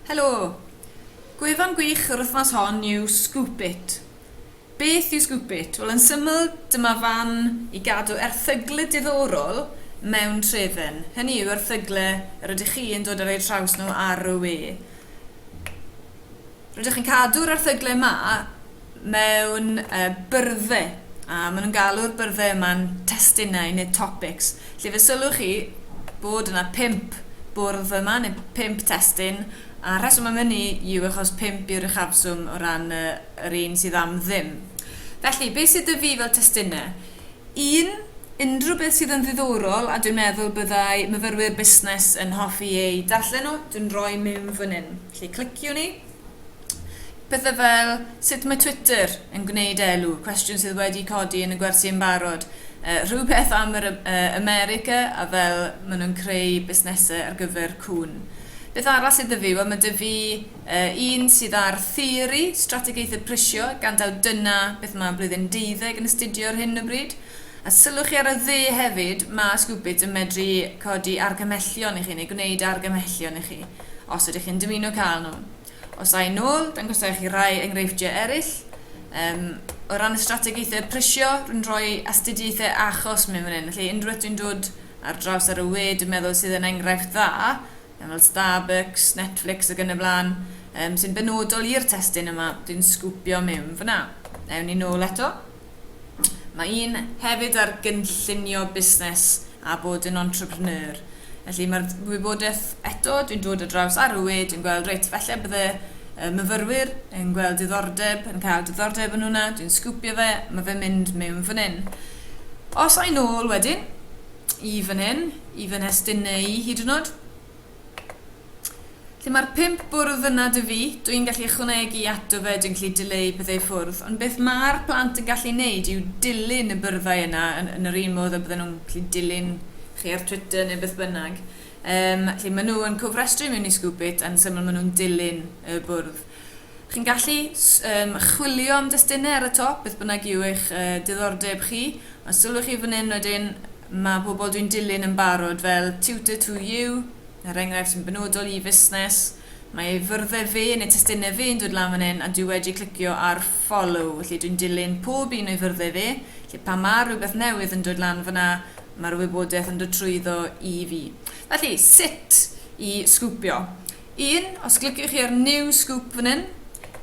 Helo! Gwefan gwych yr wythnos hon yw Scoop It. Beth yw Scoop It? Wel, yn syml, dyma fan i gadw erthygle diddorol mewn trefen, hynny yw erthygle yr ydych chi yn dod ar eu traws nhw ar y we. Rydych chi'n cadw'r erthygle yma mewn byrddau, a maen nhw'n galw'r byrddau yma'n testunau neu topics, lle fe sylwch chi bod yna pump bwrdd yma, neu pump testun, a'r rheswm am hynny yw achos pump yw'r uchafswm o ran y, yr un sydd am ddim. Felly, beth sydd 'da fi fel testunau? Un, unrhyw beth sydd yn ddiddorol a dwi'n meddwl byddai myfyrwyr busnes yn hoffi eu darllen nhw, dwi'n rhoi mewn fan hyn. Felly cliciwn i. pethau fel sut mae Twitter yn gwneud elw, cwestiwn sydd wedi codi yn y gwersi yn barod, uh, rhywbeth am yr uh, America a fel maen nhw'n creu busnesau ar gyfer cwn. Beth arall sydd dyfu? Wel, mae dyfu uh, un sydd ar theori, strategaethau prisio, gan daw dyna beth mae blwyddyn deuddeg yn astudio ar hyn o bryd. A sylwch chi ar y dde hefyd, mae Scoopit yn medru codi argymhellion i chi neu gwneud argymhellion i chi, os ydych chi'n dymuno cael nhw. Os a yn ôl, dangosai chi rai enghreifftiau eraill. Um, o ran y strategaethau prisio, rwy'n rhoi astudiaethau achos mewn fan hyn. Felly, unrhyw beth dwi'n dod ar draws ar y we, dwi'n meddwl sydd yn enghraifft dda, fel Starbucks, Netflix ac yn y blaen, um, sy'n benodol i'r testyn yma, dwi'n sgwpio mewn fyna. Ewn ni nôl eto. Mae un hefyd ar gynllunio busnes a bod yn entrepreneur. Felly mae'r wybodaeth eto, dwi'n dod o draws Arwyd, dwi'n gweld reit, falle bydde y myfyrwyr yn gweld diddordeb, yn cael diddordeb yn hwnna, dwi'n sgwpio fe, mae fe'n mynd mewn fan hyn. Os a'i nôl wedyn, i fan hyn, i fy nhestun neu hyd yn oed, Lle mae'r pump bwrdd yna dw i, dw i'n gallu ychwanegu ato fe, dwi'n gallu dileu pethau i ffwrdd, ond beth mae'r plant yn gallu neud yw dilyn y byrddau yna yn yn yr un modd y bydden nhw'n gallu dilyn chi ar Twitter neu beth bynnag. Yym, felly maen nhw yn cofrestru mewn i Scoop It a'n syml maen nhw'n dilyn y bwrdd. Chi'n gallu yym chwilio am destunau ar y top, beth bynnag yw eich yy diddordeb chi. Os sylwch chi fan hyn wedyn, mae pobl dwi'n dilyn yn barod fel Tutor to You, er enghraifft sy'n benodol i fusnes. Mae ei fyrddau fe neu testunau fe'n dod lan fan hyn a dwi wedi clicio ar Follow, felly dwi'n dilyn pob un o'i fyrddau fe, felly pan mae rhywbeth newydd yn dod lan fanna, mae'r wybodaeth yn dod trwyddo i fi. Felly, sut i sgwpio? Un, os cliciwch chi ar New Scoop fan hyn,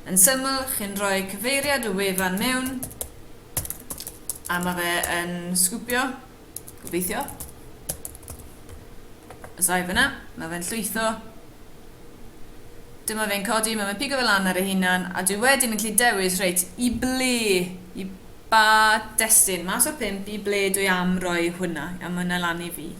yn syml, chi'n rhoi cyfeiriad y wefan mewn, a mae fe yn sgwpio, gobeithio. Os ai fyna, mae fe'n llwytho. Dyma fe'n codi, mae fe'n pigo fe lan ar ei hunan, a dwi wedyn yn gallu dewis, reit, i ble, i Pa destun? Mas o'r pump, i ble dwi am roi hwnna? Iawn, mae hwnna lan i fi.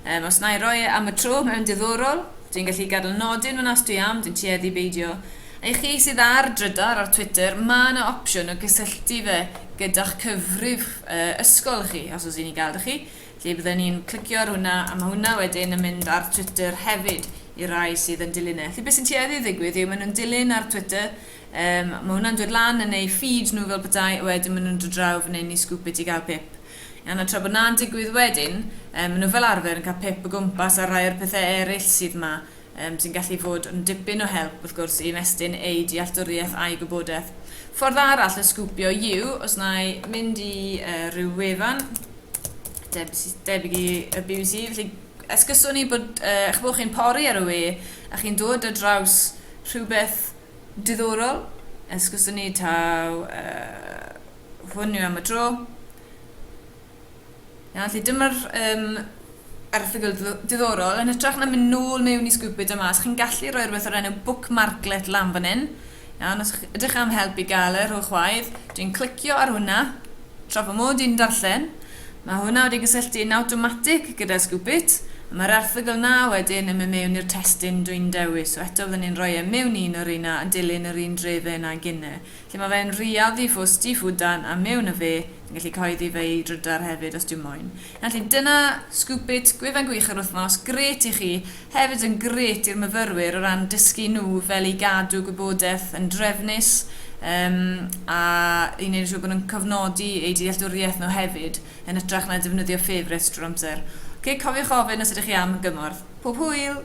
Um, os na i roi e am y tro mewn diddorol, dwi'n gallu gadael nodyn fan os dwi am, dwi'n tueddu beidio. A i chi sydd ar drydar ar Twitter, mae yna opsiwn o gysylltu fe gyda'ch cyfrif uh, ysgol chi, os oes i'n ei gael da chi. Felly byddwn ni'n clicio ar hwnna, a mae hwnna wedyn yn mynd ar Twitter hefyd i rai sydd yn dilyn e. Felly beth sy'n tueddu i ddigwydd yw maen nhw'n dilyn ar Twitter, Yym, ma hwnna'n dod lan yn eu feed nhw fel petai, a wedyn ma nhw'n dod draw fan hyn i sgŵp it i gael pip. Iawn, a tra bod na'n digwydd wedyn, yym, ma nhw fel arfer yn cael pip o gwmpas ar rai o'r pethe eryll sydd ma, yym, sy'n gallu fod yn dipyn o help, wrth gwrs, i ymestyn eu dealltwriaeth a'u gwybodeth. Ffordd arall o sgwpio yw, os na i mynd i yy rhyw wefan debs- debyg i y bbc, felly esguswn i bod yy, ch'bo, chi'n pori ar y we a chi'n dod ar draws rhywbeth Diddorol, esguswn ni taw yy hwn yw am y tro. Iawn, felly dyma'r um, erthygl diddorol. Yn hytrach na mynd nôl mewn i Scoopit a mas, chi'n gallu rhoi rhywbeth o'r enw bookmarklet lan fan hyn. Iawn, os ydych am help i gael e, rhowch waedd. Dwi'n clicio ar hwnna. Tra fy mod i'n darllen, mae hwnna wedi cysylltu yn awtomatig gyda Scoopit, a mae'r erthygl 'na wedyn yn mynd mewn i'r testun dwi'n dewis, so eto fydden ni'n rhoi e mewn un o reina yn dilyn yr un drefen â Gine, lle mae fe'n rhiaddu fo stifudan a mewn â fe, fi'n gallu cyhoeddi fe i drydar hefyd os dwi moyn. Felly dyna Scoopit, gwefan gwych yr wythnos, grêt i chi Hefyd yn grêt i'r myfyrwyr o ran dysgu nhw fel i gadw gwybodaeth yn drefnus yym a i wneud yn siŵr bod nhw'n cofnodi eu dealltwriaeth nhw hefyd yn hytrach na defnyddio ffefryts drwy'r amser. Ok, cofiwch ofyn os ydych chi am gymorth. Pob hwyl!